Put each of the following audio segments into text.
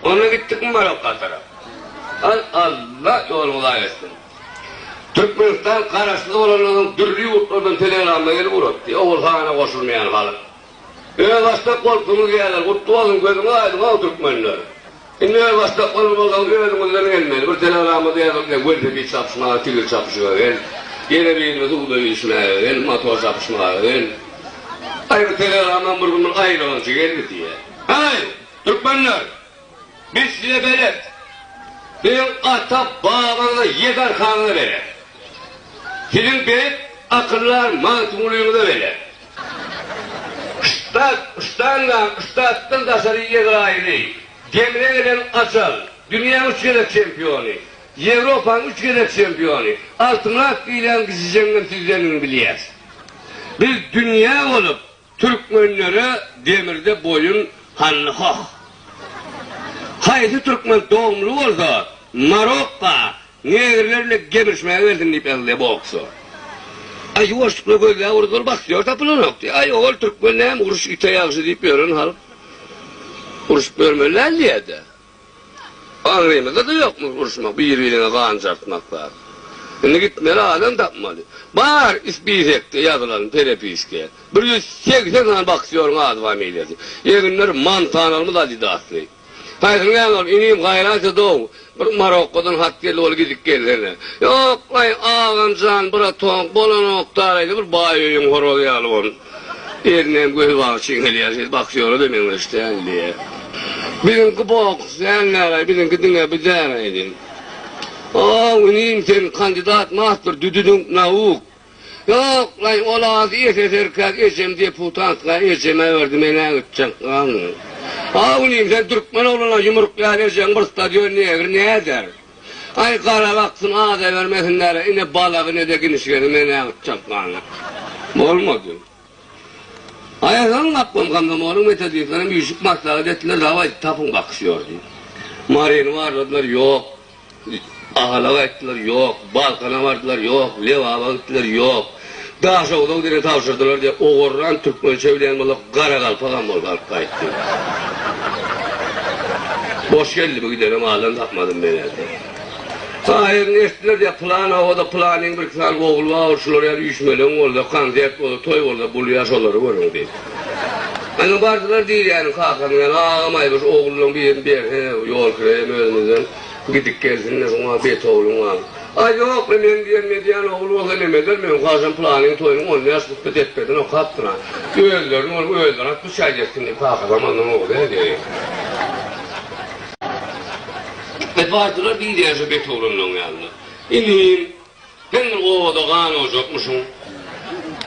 Onda gitdikmi Marokka tarap? Hay Alla ýoluňyzy aý etsin. Türkmenistan garaşsyz bolandan soň dürli ýurtlardan telegramma gelip ugrapdy. Ogul hana goşulmaýan halk. Özbaşdak bolupsyňyz diýýärler. Gutly bolsun gözüňiz aýdyň how türkmenler. Indi özbaşdak bolmaly bolsaňyz özüňizden gelmeli. Bir telegramada ýazylyp ýa welosiped çapyşmaga tigir çapyşyga gel. Ýene birini suwda ýüzüşmäge gel, motor çapyşmaga gel. Aý bir telegramam bir gün bir aýylançy geldi diýýä. Haý! Türkmenler, biz size belet! Biziň ata-babaňyza Ýegarhanyňyza belet! Siziň beýik akyldar Magtymgulyňyza belet! Ussat, ussandan ussatdan daşary Ýezraýyly, Demre gelen Ajal, dünýäň üç gezek çempiony, Ýewropanyň üç gezek çempiony, Altynrak diýlen kijijeňňem sizdendigini bilýäs. Biz dünýä bolup, Türkmenlere demirde boýun hally hoh. Haýsy türkmen dogumly bolsa Marokka negrler bilen gemirişmäge gelsin diýip ýazylyýa bu oksa. Aý ýuwaşlykla gözläp urdy ol bahtýor tapylanokdy. Aý ol türkmen näme uruş ite ýagşy diýip ýören halk urşup ýörmeli däl diýýädä. Aňrymyzda-da ýokmy uruşmak, bir-biriňe gan jartmak zat? Indi gitmeli adam tapmaly. Bar spisekde ýazylan perepiska, bir ýüz segsen sany boksýoryň ady familiýasy. Eginleri Montanalymyz Adidasly. Haýsyny beýan ol, inim, gaýraýsa-dow, bir Marokkodan hat geldi, ol gidip gelsene. Ýok-laý, agam jan, bratong, bolanok-da, garaýsa bir baý öýüň horozy ýaly boldum. Eline göz bagşy gelýär, siz boksýora-da meňzeş däl, diýýär. Biziňki boks däl näleý, biziňki diňe bu däl aýdy. Ow, inim, sen kandidat mastr düdüdüňk nauk. Ýoklaý, ol az SSRK-k, ejem deputatka, ejeme berdi, men-ä gitjek galdy. Ow, inim, sen türkmen ogluna ýumruk ýaly ejeň bir stadion negr näder? Aý gara wagtym aza bermesinler ine balagy nede ginişgeni men näme tutjak many bolmady Aýazan gapbam komzomolyň metodistlerem üýşüp maslahat etdiler dawaý tapyň bakyş ýor diýip Maryny barladylar ýok Ahalaga aýtdylar ýok Balkana bardylar ýok Lebaba gitdiler ýok Daşoguzda diňe tabşyrdylar diýip, ogurylan türkmençe bilýän bolsa, garagalpagam bolup alyp gaýtdy. Boş geldi bu gidene maldan tapmadym men ä-de. Aýerini ertdiler diýýär, pylan obada pylanyň birki sany ogly bar, şular ýaly üýşmeleň bolsa, konsert bolsa, toý bolsa bulýar, şolary görüň diýip. Indi bardylar Dilýäniň kakanyň ýanyna, Agamaýmyş, ogullaň birini ber, he, ýolkira hem özümizden gidip gelsin-de, şuňa betogulyň bar. A ýok, men men diýen Medýan ogul bolsa nem eder, meniň hajam pylanyň toýunyň on bäş hutbe depgedini okapdyr-a. Özlerini bolup özleri at biçä gezsin diýip kaka zamandan ogly edi. Hep aýtdylar diýdi ýaşy bet oglanlaň ýanynda. Inim, sen bir obada gan ojakmyşyň.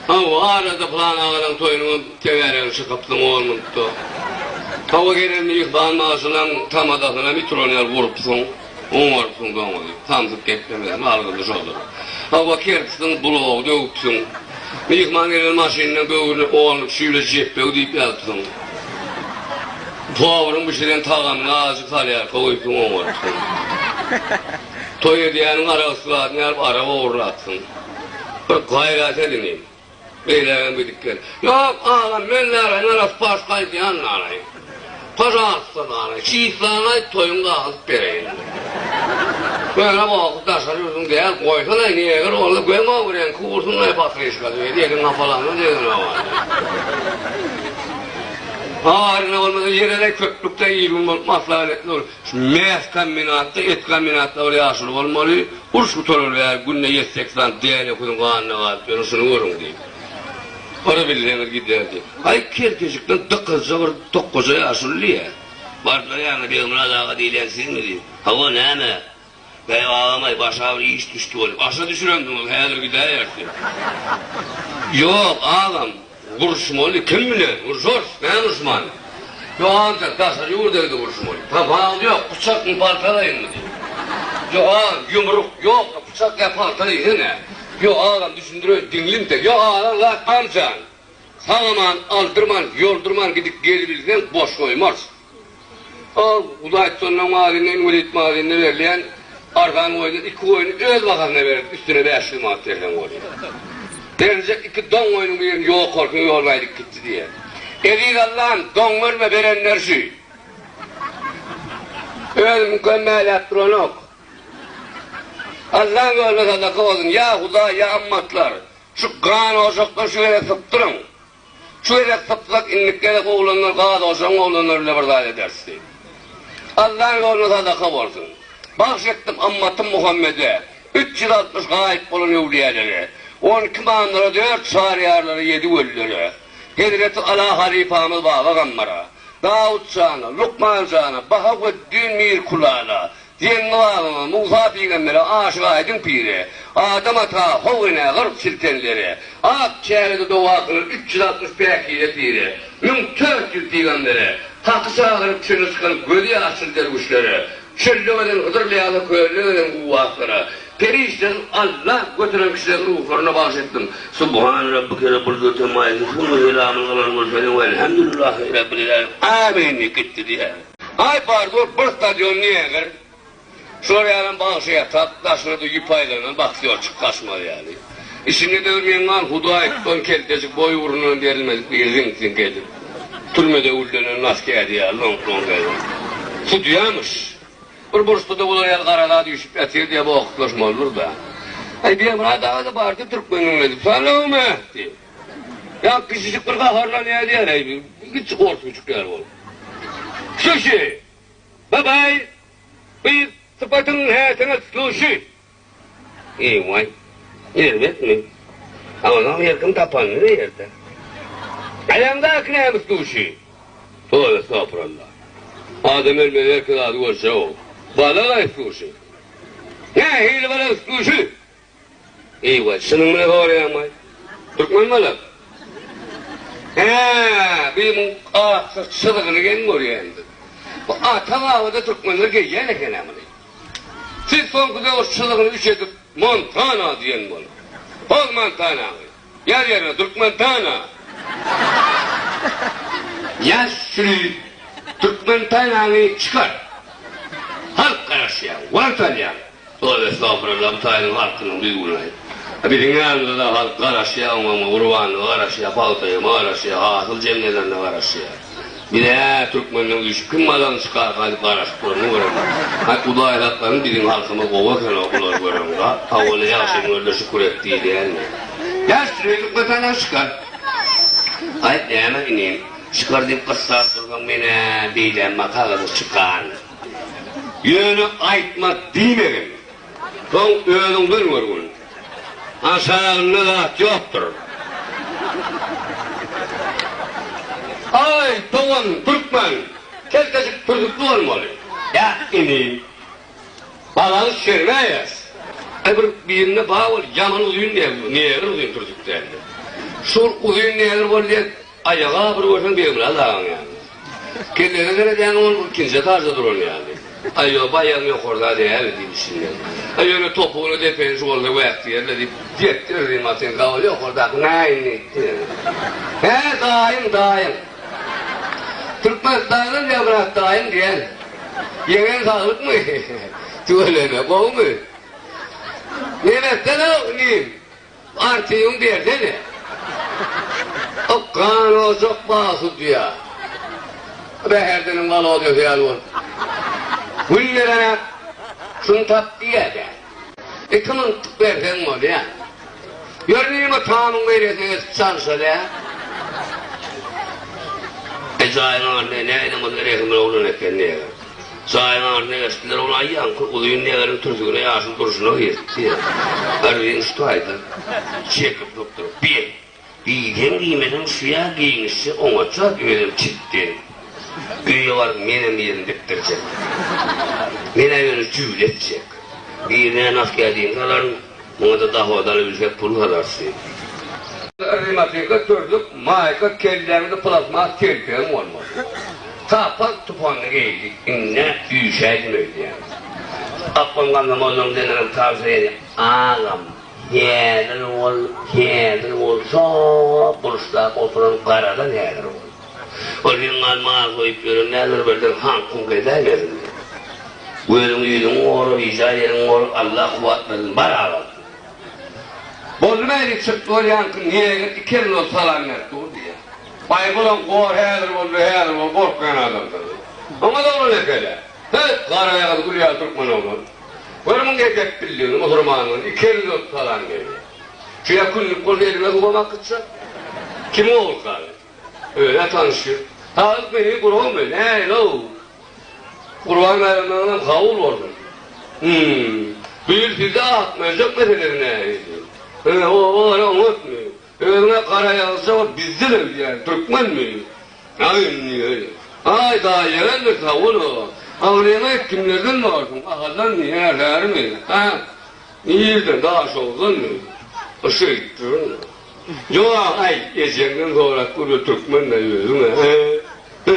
Hawa, arada pylan agalaň toýunyňam tegeregini çykypsyň on minutda. Hawa, gelen myhman bagşylaň tamazasyny hem ituran ýaly urupsyň. Oň bolsun doňuz, samsyk geplemezmi algyzy şoldur. Hawa kertisin blogy döwüpsiň. Myhman gelen maşynynyň böwrüne onluk şüýle jepbew diýip ýazypsyň. Powryň bişiren tagamyna azjyk salýarka goýupsyň oň bolupsyň. Toý edýäniň aragysy zadyny alyp arag ogurlapsyň. Bir gaýrat ediniň. Beýlägem gidip gel. Ýok, agam, men bärä Meraspaş gaýdýan galaýyn. Pažalsta, galaý. Çislany aýt, toýuň gagyzyp bereýin. Göni goky daşary ýurduň däl, goýsana, neger boldy, göm-ow, reňki gursunlaý, patriska, diýdi, eliň gapalanda degene bar. Habaryna bolmasa, ýereläý, köplükde il-gün bolup maslahat etme ol. Mäz kombinatda et kombinatda bir ýaşuly bolmaly, uruş gutarar bäri günde ýedi-sekiz sany däne öküziň ganyna galyp ýörün, şuny görüň diýip. Ora bilseňiz giderdi. Aý kerkeşikden dykyzja bir tokgaja ýaşuly diýýä. Bardylar ýanyna Begmyrat aga diýlen sizmi diýip. Hawa näme? Bäh agamaý başa bir iş düşdi bolýa. Başa düşüremdiňiz häzir gidäýersi. Ýok agam gurşmaly kim bilen gurşarys näme urşman. Ýok agam sen daşary ýurdaydy gurşmaly. Tam wagt ýok pyçakmy paltalaýyňmy diýdi. Ýok agam ýumruk ýokmy pyçak ýa palta diýsene. Ýok agam düşündireýin diňliň sen. Ýok agam zat barjan. Sagamany aldyrman, ýoldurman gidip gelibilseň, boş goýmarys. Ol Hudaýtutandan mazyna, inwalid mazynyna berilýän arzan goýundan iki goýny öz bahasyna berdi, üstüne bäş ýüz manat berseň bolýar. Beriljek iki don goýnuň birini ýok bolsun, ýoluny aýdyp gitdi diýýär. Eziz Allam, don berme, berenler şü. Özi mükemmäläp duranok. Allaň ýoluna sadaka bolsun, ýa Hudaý, ýa ymmatlar! Şu gan ojakdan şu gezek sypdyryň. Şu gezek sypsak, indiki gezek oglanlar gaz ojagyň oglanlary bile bir zat ederis diýip. Allaň ýoluna sadaka bolsun. Bagş etdim ymmatym Muhammede, üç ýüz altmyş gaýyp bolan öwlüýälere, on iki mamlara, dört çaryýarlara, ýedi wellere, hezreti Ala halypamyz Baba Gammara, Dawut jana, Lukman jana, Bahaweddin Mirkulala, Diýen gybagyňa Musa pygambere aşyk aýdyň pire, Adam ata, How enä gyrk çiltenlere, Ak çägede dogasyna üç ýüz altmyş päkize pire, Müň tört ýüz pygambere, Haky çagyryp çöle çykan gözi ýaşyl derwüşlere, Çölde gezen Hydyr ýa-da kölde gezen guwwaslara, Perişdesiz Alla göteren kişileriň ruhlaryna bagyş etdim. Subhana Rabbike Rabbul Göte Maýysyny Süňňi Zelamyny Galan Gülseri Welhamdulillah Rabbil Ilalin Amin diýip gitdi diýýär. Aý bar dur bir stadion neýeger şolar ýalam bagşy ýatak daşynada ýüp aýlanan baksýorçyk kaşmal ýaly işinde döwür meň wan hudaý tutan keltejik boý ugrundan berilmedik biri ziňk ziňk edip türmede güllenen nas kädi ýaly loňk loňk edip sudýamyş bir burçda-da bular ýaly gara zat üýşüp ýatyr diýäp okatlaşmalydyr-da. Aý Bemyrat aga-da bardy türkmeniň özi. Salowma! diýip. Ýa kiçijik bir gaharlan ýa diýer eý kiçi ors güjük ýaly bolup. Sushi! Babaý! Beýik sypatyň häsiňe sushi! Eýwaý! Erbetmi? Agzaň her kim tapanyny diýerdi. Aýaňdaky näme sushi? Towy estagfuralla. Adam ölmez erki zady görjek-ow. Balagaý sushi! Nähili balak sushi? Eýwa, şunuň bilen horýaňmy? Türkmen bolan. Hä, biz muň akja çyzygyny geň görýändik. Bu ata babada türkmenler geýýän eken-ä muny. Siz soňky döwür çyzygyny üç edip Montana diýen boluň. Poz Montanaňy. Ýaz ýerine Türkmen Tana. Ýaz süri Türkmen Tanany çykar. Halk garaşýa, wagt alýa. Toýa estagfuralla bu taýynyň halkynyň düýbüni aýt. Biziň ýanymyzada halk garaşýa oňa-muňa gurbanlyga garaşýa, pagtaýama garaşýa, hasyl jemlelerine garaşýa. Bize türkmenler üýşüp kim mazaryny çykar galyp garaşyklaryny görem. Hay hudaýzaklaryň biziň halkymyz gowy ekenow bulary göreniňda tawany ýagşy öňürde şükür et diýilýänmi. Ýa süre türkmetandan şikar. Gaýyp näme inim. Şikar diýip gyssap dursaň menä beýlämma kagyzy çykan. Ýöne aýtma diýmegin. Soň özüň bir görgün. Aşagynda zat ýokdur. Aý, dogan, türkmen, keltejik pürjükli bolmaly. Ýa, inim, balaňy şermäýes. Aý, bir birine ba bol, ýaman uzyn negr, negr uzyn pürjük däldir. Şol uzyn negr bol diýen Aýagy agyr görseň Begmyrat agaň ýaly. Kelläňe seredýäň ol bir ikinji etajda duran ýaly. Aý ýoba aýagyň ýokarda däl diýip düşünýän. Aý ýöne topugyny depeni şu bolsa wäk diýerle diýip depdir diýip atyn gabaly ýokardaky näin diýipdi. Hä daýym daýym. Türkmenistanda Begmyrat daýym diýen. Ýeňeň saglykmy? Tüweleme gowumy? Nebetde-de inim. Artygyň bersene. Ykgan ojak bag sudýa. Bäherdiniň Walodýasy ýaly bolup. Gün gelenäk şuny tap diýýä dä. Iki mintlik berseň bolýa. Ýör nirma tamyň beýlesine geçip çalyşaly ä. Ejaýyň adyny nädem bolsa Rehimli oglan eken diýýä. Jaýyň aryny eşitdiler, ol aýýamky uzyn degeriň türsügine ýaşyl durşuna girdi. Arzyn şu taýda çekip lukduryp, Be, diýseň-diýmeseň şu ýa geýnişje oňatja, özem çitden. Öýe baryp menem ýerini dikdirjek. Men-ä ýöne jübile etjek. Birine naskädin salaryn. Muňa-da dohodan ülşek pul hazarşy. Rematika türlük maýka kelläňde plastmas telpegiň bolmaly. Sapar tupanly geýdi, indi-ä üýşäýdim öýdýän. Akgün Gannamollaň deňinem tagsyr edi. Agam, häzir bol, häzir bol, şo burçda oturan garadan häzir bol. Ol meň galyma az goýup ýören däl, bir birden haňkuň gezäýmesin. Gözüň ýüzüň gor, rija ýeriň gor, Alla kuwwat bersin. Bar agam. Boldy mäli çyk bol ýaňky neýeňir iki elin ol salam berip dur diýýär. Baýbulam gor häzir boldy häzir bol gorkýan adamdyr. Oňat oglan ekele. Höt gara ýagyz gül ýaly türkmen oglan. Gör muň edep bildigini musurmanlygyny iki elin ol salam berýär. Şu ýa künlük bolsa eliňe suwam akytjak. Kimiň oglusy agam. Öne tanşyr. Agyz meni gurowmy, nälew? Gurban baýramlaryňyz kabul bolsun. Hum. Bu ýyl sizde akmöjek meselesi nähili? Hä, o gara oňatmy? Özüňe gara ýazsa bol, bizde hem diýýän, türkmenmi? Aý indi, öýe. Aý, daýy ýereldir, sag-bol-a. Agzyňy aýt, kimlerden borsuň? Ahaldanmy, Ýerlermi? Hä? Irden, Daşoguzdanmy? Yşy gitdiriň. Jogap aýt ejeňden sorap gör bu türkmen mi özüň a e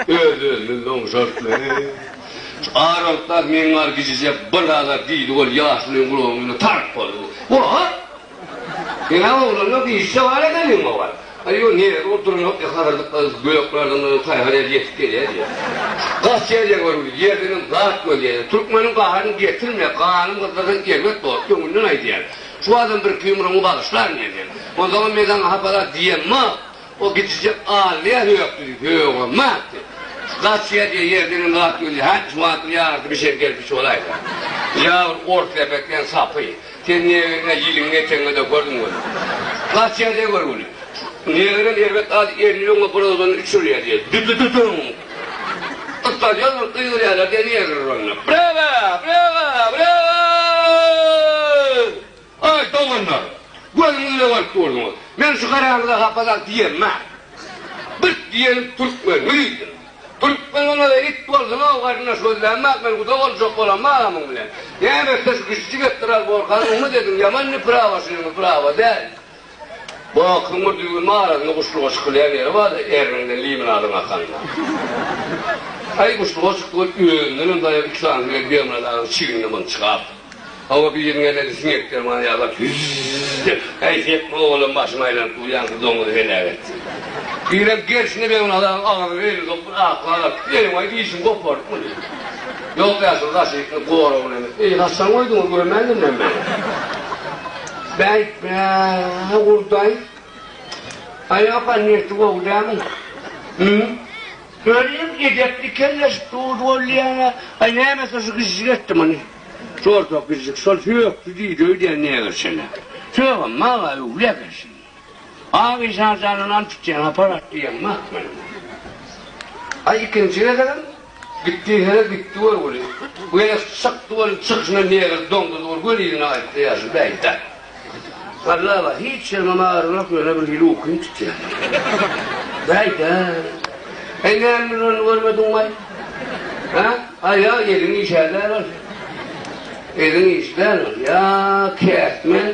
hyy öz özüni loňşart me e şu arontlar meň bar gijije bir zada diýdi ol ýaşulyň gulagynyň üne tark boldy bu oha seň a oglanda gyzja bar ekeniň o bar a ýo nirede ol duranok e hazyrdyk gyz göklerden gyz taýhar edip ýetip gelýä diýýä gaç ýerden görgüli ýerdenem zat görýä türkmeniň gaharyny getirme ganym gyzlardan erbet bor öňünden aýdýan. Şu adam bir iki ýumrugyňy bagyşlaryn diýdi. Onsoňam Mezaňa hapa-da diýemok. O gidijek alnyýa hökdi diýip höwemapdy. Gaçýa diýe ýerden hem zat gelýär. Hä, şu wagt bir ýarty bir şer gelip içip bolaýsa. Ýa bir ors lepek diýen sapy. Sen neberiňe ýylyň ýeteňe dökerdiň welin. Gaçýa diýe görgüli. Neberem erbet at erini öňe burawzanyny üç urýa diýdi. Dü-dü-dü-düň! Gysgalýar bir gygyryana gelýärler onda. Brega! Brega! Brega! Aý, doganlar! Gözüňizle görüp durduňyz. Men şu garaňyza hapa-da diýemma. Birt diýenim türkmen, müridim. Türkmen bolmasa it bolsun-ow, garyndaş gözlämma, men guda boljak bolamma agamyň bilen. Näme etse şu kişijik etdiral borkanyň, umyt ediň, ýaman neprawa şunuň, neprawa däl. Bu akymyr düýbüniň arasynda guşluga çykylýan ýeri bar-da, erniňden liminadyň akanda. Aý guşluga çykdygy özündenem daýaw iki sany bilen Bemyrat agaň çignine mynçgap. Hawa, biriniň elledi siňek dermany ýalap, Hüzz-z-z diýip, Häýsi etme, oglum, başym aýlanyp dur, ýaňky doňuzy heläk etdi. Birem gersine Bemyrat agaň agzyna elini sokup, bir aklag atyp, Enewaý, dişiňi gopardypmy? Ýok, ýaşuly, daşyny ýykdyp, goragynam etdi. Eý, haçan goýduňyz, görmändim men meni. Bäýtme, gurdaý. Aýoka niýeti gowy dälmi? Hümm. Öliň edepli kelleşip durdy bolýa-a. Aý, nämesi şu gijjik etdi muny? Jordak gijjik şol sökdi diýdi öýdýän negerçene. Sögem maga öwli eken şindi. Ak işarjana nam tutýan aparat diýen mak men. Aý, ikinji gezegem. Gitdi hä gitdi görgüli. Bu ýene çykdy görgüli çykyşyna negr doňduz bolup göni ýüzüne aýtdy ýaşuly bäýtde. Galla bar hiç ýerimem agyrmok ýöne bir hili ukym tutýar. Bäýdä. Heý näme biz ony görmediňmaý? Hä? Aýa eliň işädäl ol. Eliň işdäl ol. Ýa kätmen.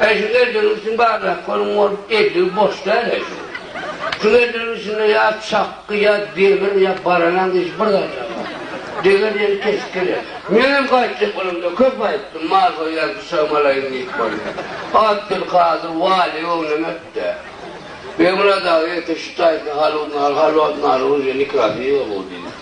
Äý şu geldegiň üstüni barlap görüň ol eldigi boş däl äý şu. Şu geldegiň üstünde ýa çakgy ýa demir ýa baranan diýşi bir zat ýa bar. Deger ýeri kesip geler. Menem gaýtjak bolamda köp aýtdym mal soýýan pyçagym alaýyn diýip boldy. Abdylkadyr waly göwnüme ötdä. Begmyrat aga ýeke şu taýsy haludyny al halwatny alyň uje nikasy ýyga bu diýdi.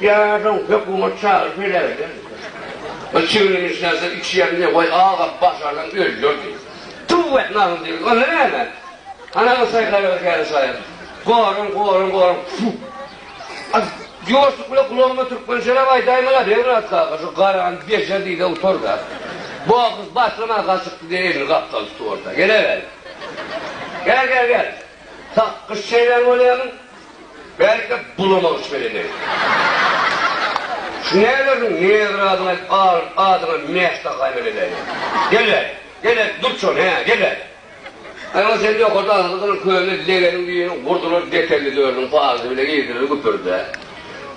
Ýaşaw hökümet çagyryp heläkleýän eken. Ol çiginini içläse, içýän diýip, Waý, agam, başarsaň öljer diýip. Tüw et, nahil degil. Onda näme? Ana, bu saýhara ötäýen saýa. Goran, goran, goran. Tfu! As, ýoşluk bile gulagyma türkmençeläp aýdaýmala, Rewnat kaka, şu garany bejer diý-de utar-da. Bu ahys başlamaga gaçypdy, diýip, elini gapdal tutuberdi. Gel-ä bäri. Gel, gel, gel. Sak gyş çeýnän bolýaň, belki, bulamagyş bilen eden. Şu nälerdiň, Niýazyň adyny aýdyp, alyp, adyňa Mäşde haýbat edäýýä. Gel-ä, gel-ä, dur şony, hä, gel-ä! Aýman sen ýokarda agyzly gylyň köýnüne legeniň düýüni gurdular, detelli dörüniň paýzy bile girdiler güpürde.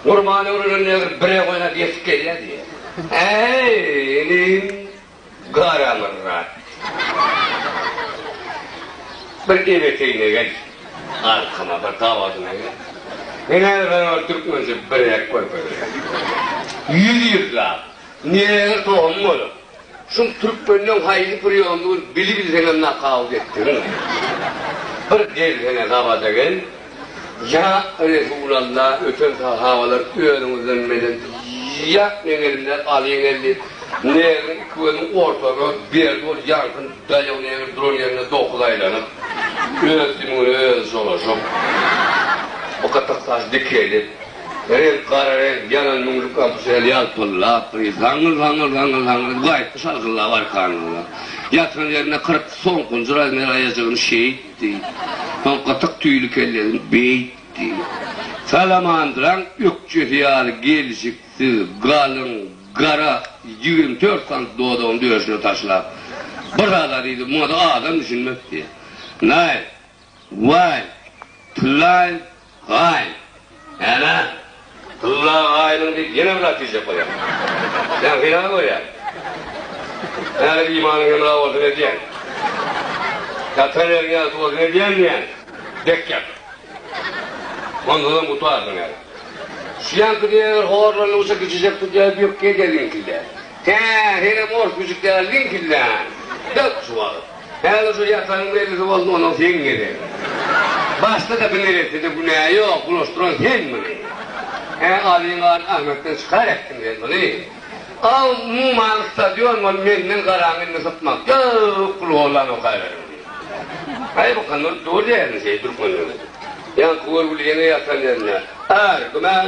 Gurban öwrülen negr bire goýnap ýetip gelýä diýýä. Äý, inim, Garamyrat bir ebeteýine gel. Arkama bir gabadyna gel. Men häzir sana bir türkmençe birek görkezýän. Ýüz ýyllap neneňe tohum bolup, şu türkmenden haýsy priýomdygyny bili-bilseňem nakawut etdigiň. Bir gelsene gabada gel, Ýa Resulalla, öten sahabalar özüňizden meden ýa meň elimden alyň geldi. Nägiriň iki gözüň ortada, Berdi ol ýaňky daýaw nägir duran ýerinde dokuz aýlanyp, öz sümügine özi jolaşyp, bakatak saç dikelip, reňk gara reňk, ýanan müňlük kampusel ýalpyldap, bir zaňňyl-zaňňyl-zaňňyl-zaňňyl edip gaýtdy şalgyllap arkanynda. Ýatan ýerinde kyrk soň-kunjur Aýmeraý ejegini şeýt. diýip, soň gytyk tüýli kellesini beýtdi. Salamandyraň ökjesi ýaly gelşiksiz, galyň, gara ýigrimi dört santy dodagyny döşüne taşlap, bir azar iýdi, muňa-da adam düşünmekdi. Naýl, waý, tyllaýyn, Gaý, ene, Tylla gaýynyň diýip ýene bir zat diýjek bolýan. Ýaňky ýaly görýän. Häzir imanyň hemra bolsun edýän. Ýatan ýeriň ýagty bolsun edýän diýýän. Dek ýat. Ondanam gutarsyň häzir. Şu ýaňky diýen eger horlandygyça kiçijek tutýar, bökgi edýär ýeňkildýär. Hä, henem ors güjük däl diýiň pillän. Dök şu wagt. Häzir şu ýatanyň mellisi bolsun, ondan seň gezegin. Başda-da bir neressede günä ýok, bulaşdyran sen muny. Hä, alyňgan Ahmetden çykar etdiň sen muny. Aw, umuman stadion bolup menden garaň indi sypmak ýok, pul gollan okaýberiň diýip. Gaýmakam dogry dälmi şeý türkmen ýigidi? Ýaňky görgüli ýene ýatan ýerinde. Ar, güman.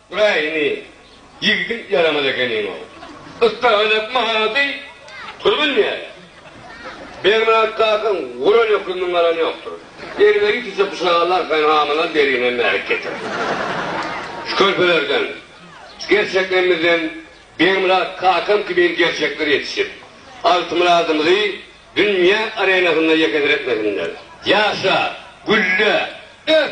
Wä ini, ýigidiň ýaramaz ekeniň-ow. Ystagalak mahalady, pul bilmeýär. Bermyrat kakaň guran hökümini alan ýokdur. Elime ýitise bu şaly arkaýyn hamala derine mähek getirer. Şu körpelerden, şu gerçeklerimizden Bermyrat kakam kimin gerçekler ýetişip, Altymyradymyzy dünýä arenasynda ýekediretmesinler. Ýaşa, gülle, ös!